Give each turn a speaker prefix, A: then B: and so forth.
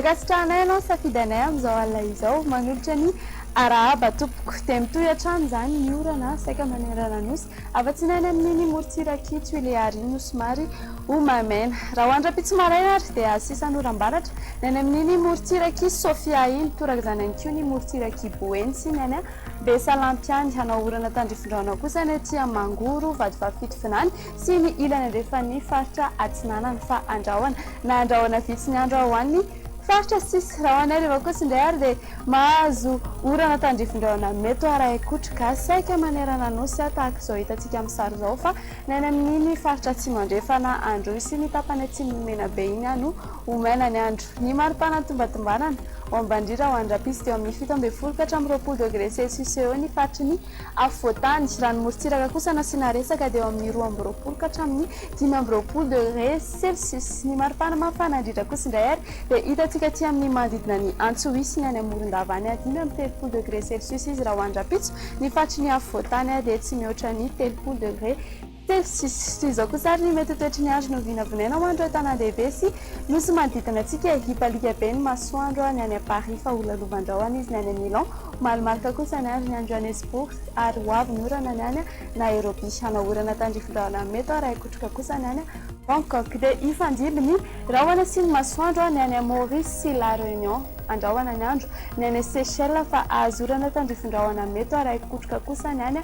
A: Ankasitrahanay ianao nisafidy anay amin'izao alina izao. Manolotra ny arahaba tompoko. Dia mitohy hatrany izany ny orana saika manerana nosy. Afa-tsinana ny mini morontsirak'i Tuilearies no somary ho maimaina. Raha ho an dRampitso maraina ary dia asisan oram-baratra ny any amin'iny morontsirak'i Sofia iny. Toraka izany ihany koa ny morontsirak'i Boeny sy ny any Besalampy any. Hanao orana tandrifindraona kosa ny aty Mangoro, Vadifafito vinany sy ny ilany andrefan'ny faritra atsinanana. Fa andrahona na andrahona vitsy ny andro ao any Faritra sisa, raha ho anay rehefa kosa indray ary dia mahazo orana tandrifindraona mety ho arahin'ny kotro gasy saika manerana nosy tahaka izao hitantsika amin'ny sary izao fa ny any amin'iny faritra atsimo andrefana Androy sy ny tapany atsimon'i Menabe iny ihany no ho maina ny andro. Ny maripana nitombatombanana ho ambandrira ho any rahampitso dia eo amin'ny fito ambin'ny folo ka hatramin'ny roapolo degré celsius eo eo ny faritry ny Afovoantany, raha ny morontsiraka kosa no asiana resaka dia eo amin'ny roa amby roapolo ka hatramin'ny dimy amby roapolo degre celsius. Ny maripana mafana indrindra kosa indray ary dia hitantsika aty amin'ny manodidina an'i Antsohihy sy ny any Morondava any, dimy amby telopolo degre celsius izy raha ho any rahampitso, ny faritry ny afovoantany ary dia tsy mihoatra ny telopolo degre. Telo sy sisa. Toy izao kosa àry ny mety ho toetry ny andro no vinavinaina ho an'ireo tanàndehibe sy nosy manodidina antsika e. Hipalika be ny masoandro ny any Paris fa ho lalovandrahona izy ny any Milan. Ho malomaloka kosa ny andro ny any Johannesburg ary ho avy ny orana ny any Nairobi. Hanao orana tandrifindrahona amin'ny mety ho iray kotroka kosa ny any Bangkok. Dia hifandimby ny rahona sy ny masoandro ny any Maurice sy La Réunion. Andrahona ny andro ny any Seychelles fa hahazo orana tandrifindrahona amin'ny mety ho iray kotroka kosa ny any.